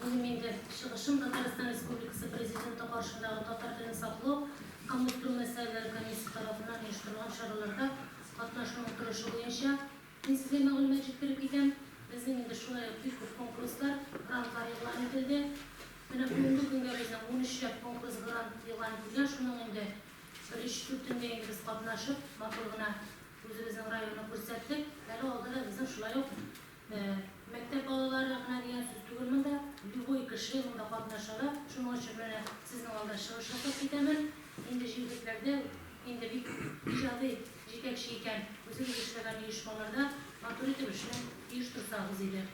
Бүген мин дә чыгышым Татарстан Республикасы Президенты каршындагы татар телен саклау һәм үстерү мәсьәләләре комиссиясе тарафыннан оештырылган чараларда катнашуның торышы буенча низгли мәгълүмат җиткереп китәм. Безнең инде шулай ук бик күп конкурслар, грантлар игълан ителде. Менә бүгенге көнгә безнең унөч чак конкурс, грант игълан ителгән, шуның инде бер өч-дүртендә инде без катнашып, матур гына үзебезнең районны күрсәттек. Әле алда да безнең шулай ук Мәктәп балалары гына дигән сүз түгел монда, любой кеше монда катнаша ала, шуның өчен менә сезнең алда чыгыш ясап китәмен. Инде җирлекләрдә инде бик иҗади җитәкче икән, үзегез эшләгән оешмаларда матур итеп эшне оештырсагыз иде.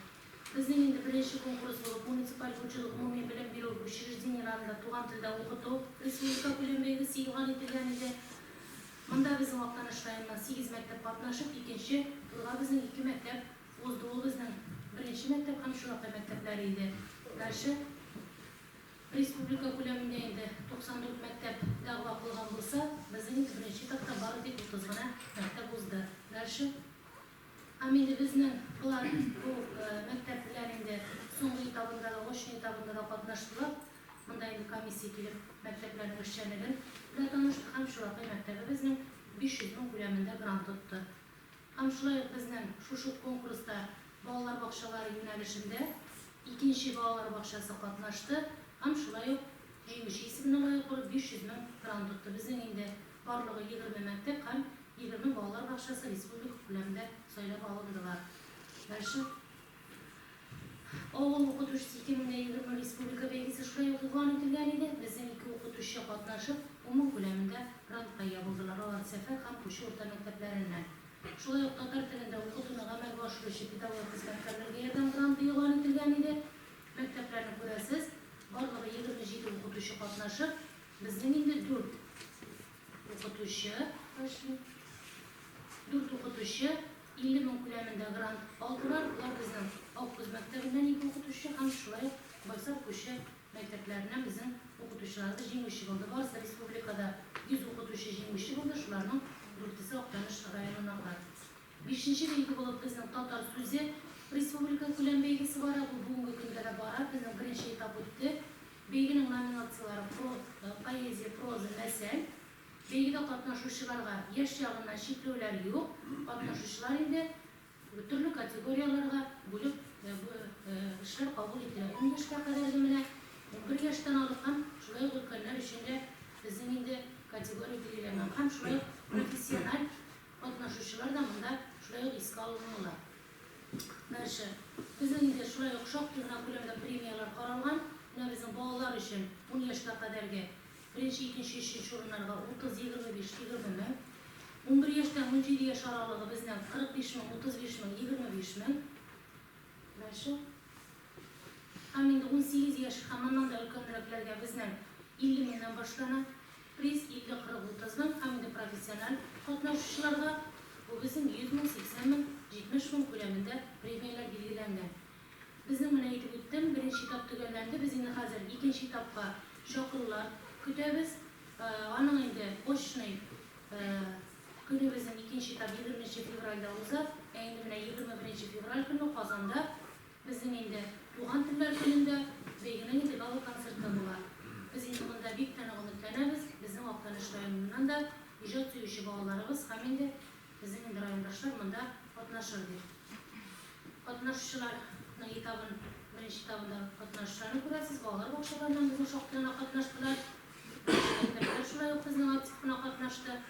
Безнең инде беренче конкурс булып муниципаль хуҗалык, гомуми белем бирү учреждениеләрендә туган телдә укыту республика күләм бәйгесе игълан ителгән иде. Монда безнең Актаныш районыннан сигез мәктәп катнашып, икенче турга безнең ике мәктәп узды. Ул безнең беренче мәктәп һәм Чулакай мәктәпләре иде. Дальше республика күләмендә инде 94 мәктәп дәгъва кылган булса, безнең инде беренче этапта бары тик 30 гына мәктәп узды. Дальше. Һәм инде безнең болар бу мәктәп белән инде соңгы этабында да, очный этабында да катнаштылар. Монда инде комиссия килеп мәктәпләрнең эшчәнлеген белән танышты һәм Чулакай мәктәбебезнең 500 мең күләмендә грант тотты. Һәм шулай ук безнең шушы ук конкурста балалар бакчалары юнәлешендә икенче балалар бакчасы катнашты һәм шулай ук җиңүче исеменә лаек булып 500 мең грант тотты. Безнең инде. Барлыгы егерме мәктәп һәм егерме балалар бакчасы республика күләмендә сайлап алындылар. Мәчет, авыл укытучысы ике мең дә егерме республика бәйгесе шулай ук игълан ителгән иде. Безнең ике укытучы катнашып, гомум күләмендә грантка ия булдылар, алар Сәфәр һәм Кучу урта мәктәпләреннән. Шулай ук татар телендә укытуны гамәлгә ашыручы педагог хезмәткәрләргә ярдәм гранты игълан ителгән иде. Мәктәпләрне күрәсез, барлыгы егерме җиде укытучы катнашып, Безнең инде дүрт укытучы эшли. Дүрт укытучы 50 мең күләмендә грант алдылар. Болар безнең Аккүз мәктәбеннән ике укытучы һәм шулай ук Байсак күче мәктәпләреннән безнең укытучыларыбыз җиңүче булды. Барысы республикада 100 укытучы җиңүче булды, шуларның дүртесе Актаныш районыннан. Бишенче билге булып безнең Татар сүзе республикакүләм бәйгесе бара. Бу бүгенге көндә дә бара. Безнең беренче этап үтте. Бәйгенең номинацияләре про, поэзия, проза, мәсәл. Бәйгедә катнашучыларга яшь ягыннан чикләүләр юк. Катнашучылар инде төрле категорияләргә бүлеп эшләр кабул ителә. Ун яшькә кадәрге менә унбер яшьтән алып һәм шулай ук өлкәннәр өчен дә безнең инде категория билгеләнгән һәм шулай ук профессиональ Катнашучылар да монда шулай ук искә алынуына тырыша. Безнең илдә шулай ук шактый гына күләмдә премияләр каралган. Менә безнең балалар өчен ун яшькә кадәрге беренче, икенче, өченче урыннарга 30, 25, 20 мең, унбер яшьтән унҗиде яшь аралыгы безнең 45 мең, 35 мең, 25 мең. Һәм инде унсигез яшь һәм аннан да өлкәнрәкләргә безнең 50 меңнән башлана. Приз 50-40-30-ның һәм инде профессиональ катнашучыларга бу безнең 100 мең, 80 мең, 70 мең күләмендә премияләр билгеләнгән. Безнең менә әйтеп үттем, беренче этап төгәлләнде, без инде хәзер икенче этапка чакырулар көтәбез. Аның инде очный көне безнең икенче этап егерменче февральдә уза. Ә инде менә егерме беренче февраль көне Казанда Безнең өйдә Туган телләр көнендә бәйгенең инде гала концерты була. Без инде монда бик тә нык өметләнәбез. Безнең Актаныш районыннан да иҗат сөюче балаларыбыз һәм инде безнең инде райондашлар монда катнашыр дип. Катнашучыларның этабын, беренче этабында катнашучыларны күрәсез. Балалар бакчаларыннан безнең шактый гына катнаштылар. Мәктәпләр шулай ук безнең актив кына катнашты.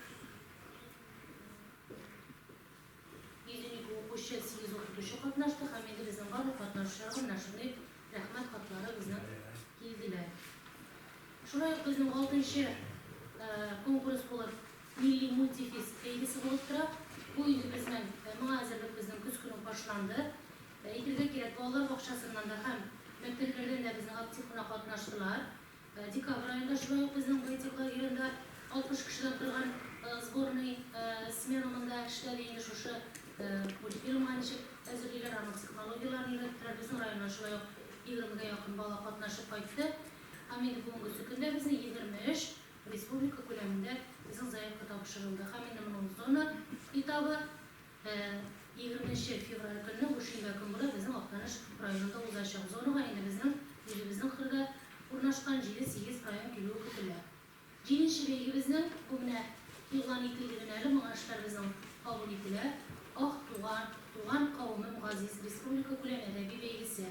112 укучы, 8 укытучы катнашты һәм инде безнең барлык катнашучылар гы менә шундый рәхмәт хатлары безнең килделәр. Шулай ук безнең алтынчы конкурс булып Милли мультифест бәйгесе булып тора. Бу инде безнең моңа әзерлек безнең көз көне үк башланды. Әйтергә кирәк, балалар бакчасыннан да һәм мәктәпләрдән дә безнең актив кына катнаштылар. Декабрь аенда шулай ук безнең Байтик лагеренда 60 кешеләп торган сборный смена монда эшләде инде шушы мультфильмга ничек әзерлиләр, аның технологияләрен өйрәттеләр. Безнең районнан шулай ук егермегә якын бала катнашып кайтты. Һәм инде бүгенгесе көндә безнең 23 республика күләмендә безнең заявка тапшырылды. Һәм инде моның зона этабы. Ә егерменче февраль көнне бу шимбә көнбурай безнең Актаныш районында узачак. Зонага инде безнең үзебезнең кырда урнашкан җиде-сигез район килүе көтелә. Җиденче бәйгебезнең, бу менә игълан ителде генә әле, моңа эшләр безнең кабул ителә, Ак туган, Туган кавемем газиз республика күләм әдәби бәйгесе.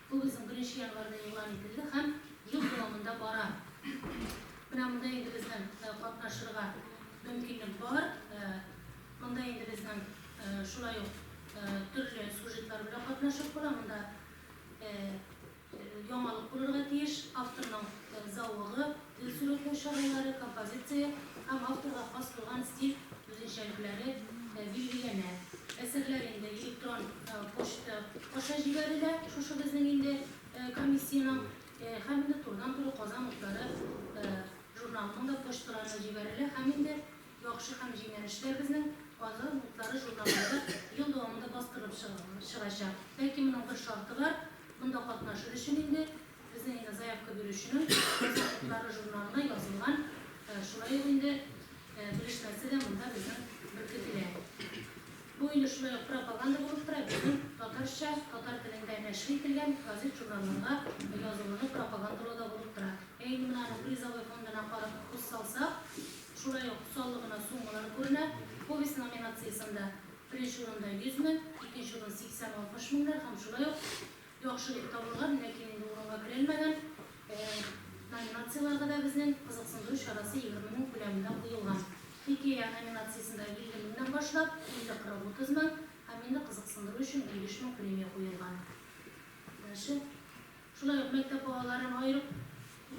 Кубизм беренче январьда игълан ителде һәм ел дәвамында бара. Менә монда инде безнең катнашырга мөмкинлек бар. Монда инде безнең шулай ук төрле сюжетлар белән катнашып була. Монда яңалык булырга тиеш, авторның зәвыгы, Ил сурәтләү чаралары, композиция һәм авторга хас булган стиль үзенчәлекләре билгеләнә. Әсәрләр инде электрон почта аша җибәрелә, шушы безнең инде комиссиянең һәм инде турыдан-туры Казан утлары журналының да почталарына җибәрелә һәм инде Яхшы һәм җиңел эшләр безнең Казан утлары журналында ел дәвамында бастырылып чыгачак. Ләкин моның бер шарты бар, монда катнашыр өчен инде Безнең инде заявка бирүченең Азатлыклары журналына язылган, шулай ук инде белешмәсе дә монда безнең беркетелә. Бу инде шулай ук пропаганда булып тора, безнең татарча, татар телендә нәшер ителгән газет-журналларга язылуны пропагандалау да булып тора. Ә инде менә аның призовой фондына карап күз салсак, шулай ук саллы гына суммалар күренә. Повесть номинациясендә беренче урында 100 мең, икенче урын 80-60 меңнәр һәм шулай ук Яхшы дип табылган, ләкин инде урынга керелмәгән номинацияләргә дә безнең кызыксындыру чарасы егерме мең күләмендә куелган. Хикәя номинациясендә илле меңнән башлап, илле, кырык, утыз мең һәм инде кызыксындыру өчен унбиш мең премия куелган. Дальше. Шулай ук мәктәп балаларын аерып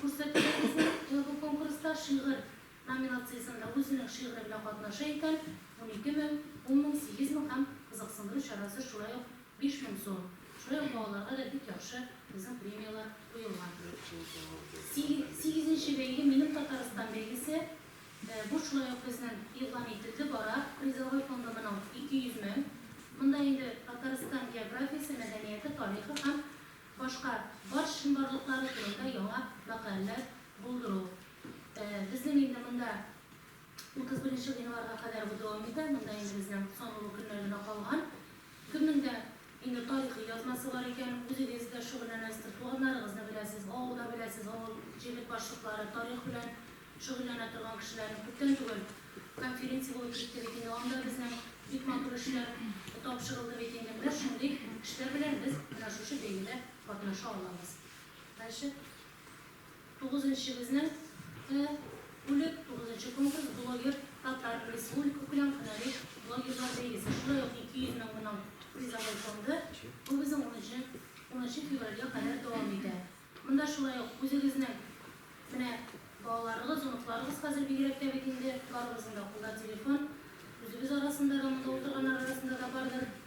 күрсәтүләр безнең бу конкурста шигырь номинациясендә үзенең шигыре белән катнаша икән, унике мең, ун мең, сигез мең һәм кызыксындыру чарасы шулай ук биш мең сум. Шулай ук балаларга да бик яхшы безнең премияләр куелган. Сигезенче бәйге, Минем Татарстан бәйгесе. Бу шулай ук безнең игълан ителде, бара. Призовой фонды моның ике йөз мең. Монда инде Татарстан географиясе, мәдәнияте, тарихы һәм башка бар чынбарлыклары турында яңа мәкаләләр булдыру, Безнең инде монда 31 нче гыйнварга кадәр бу дәвам итә. Монда инде безнең санаулы көннәр генә калган. Кемнең дә инде тарихи язмасы бар икән, үзегез дә шөгыльләнәсездер, туганнарыгызны беләсез, авылда беләсез, авыл җирлек башлыклары, тарих белән шөгыльләнә торган кешеләрне күптән түгел конференция булып китте бит инде, анда безнең бик матур эшләр тапшырылды бит инде. Менә шундый эшләр белән без менә шушы бәйгедә катнаша алабыз. Дальше. Тугызынчы безнең кы үлек тугызынчы конкурс блогер татар республика күләм һөнәри блогерлар бәйгесе шулай ук 200 мең гының призовой фонды бу безнең унынчы унынчы февральгә кадәр дәвам итә монда шулай ук үзегезнең менә балаларыгыз оныкларыгыз хәзер бигрәк тә бит инде барыбызның да кулда телефон үзебез арасында да монда утырганнар арасында да бардыр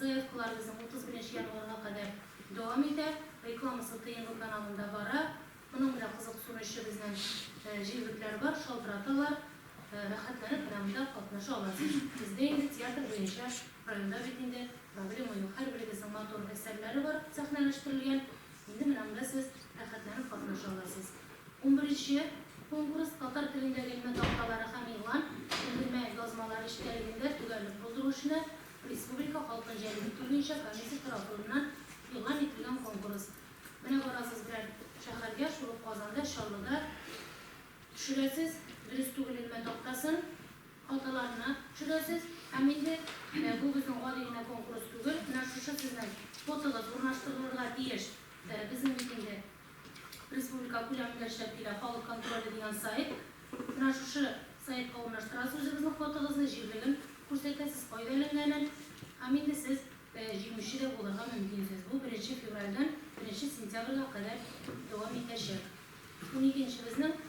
Заявкаларыбызның 31 нче январьга кадәр дәвам итә. Рекламасы тыенгы каналында бара. Моның белән кызыксынучы безнең җирлекләр бар, шалтыраталар. Рәхәтләнеп менә монда катнаша аласыз. Бездә инде театр буенча районда бит инде проблема юк. Һәрберегезнең матур әсәрләре бар сәхнәләштерелгән. Инде менә монда сез рәхәтләнеп катнаша аласыз. Унберенче конкурс, татар телендәге элмә такталары һәм игълан, элемә язмалар эчтәлегендә төгәллек булдыру эшенә Республика халкын җәлеп итү буенча комиссия тарафыннан игълан ителгән конкурс. Менә барасыз белән шәһәргә, шул ук Казанда, Чаллыда төшерәсез, дөрес түгел элмә тактасын, хаталарына төшерәсез һәм инде бу безнең гади генә конкурс түгел, менә шушы сезнең фотогыз урнаштырылырга тиеш безнең бит инде. Республика күләмендә эшләп килә Халык контроле дигән сайт. Менә шушы сайтка урнаштырасыз үзегезнең фотогызны, җирлеген күрсәтәсез, кайда эленгәнен. Һәм инде сез җиңүче дә булырга мөмкинсез. Бу беренче февральдән беренче сентябрьгә кадәр дәвам итәчәк. Уникенче безнең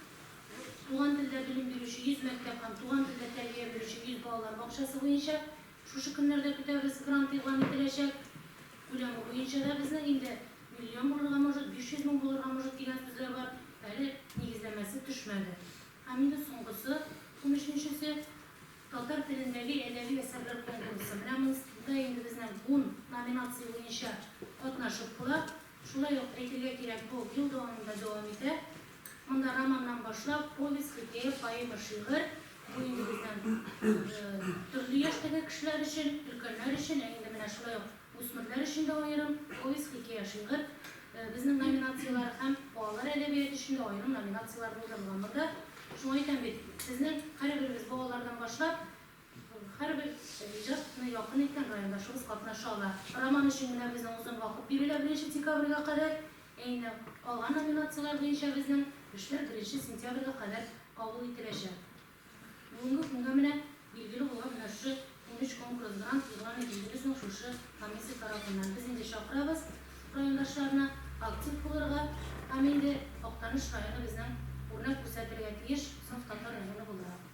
Туган телдә белем бирүче 100 мәктәп һәм Туган телдә тәрбия бирүче 100 балалар бакчасы буенча Шушы көннәрдә көтәбез, грант игълан ителәчәк. Күләме буенча да безнең инде миллион булырга может, 500 мең булырга может дигән сүзләр бар. Әле нигезләмәсе төшмәде. Һәм инде соңгысы, унөченчесе, татар телендәге әдәби әсәрләр конкурсы. Менә монда инде безнең ун номинация буенча катнашып була. Шулай ук әйтергә кирәк, бу ел дәвамында дәвам итә. Монда романнан башлап, повесть, хикәя, поэма, шигырь, бу инде безнең төрле яшьтәге кешеләр өчен, өлкәннәр өчен, ә инде менә шулай ук үсмерләр өчен дә аерым повесть, хикәя, шигырь, безнең номинацияләр һәм балалар әдәбияты өчен дә аерым номинацияләр булдырылган. Монда шуңа әйтәм бит, сезнең һәрберегез балалардан башлап, Һәрбер иҗатны якын иткән райондашыбыз катнаша ала. Роман өчен генә безнең озын вакыт бирелә, беренче декабрьгә кадәр. Ә инде калган номинацияләр буенча безнең эшләр беренче сентябрьгә кадәр кабул ителәчәк. Бүгенге көнгә менә билгеле булган менә шушы унөч конкурс грант игълан ителде безнең шушы комиссия тарафыннан. Без инде чакырабыз райондашларны актив булырга һәм инде Актаныш районы безнең үрнәк күрсәтергә тиеш саф татар районы буларак.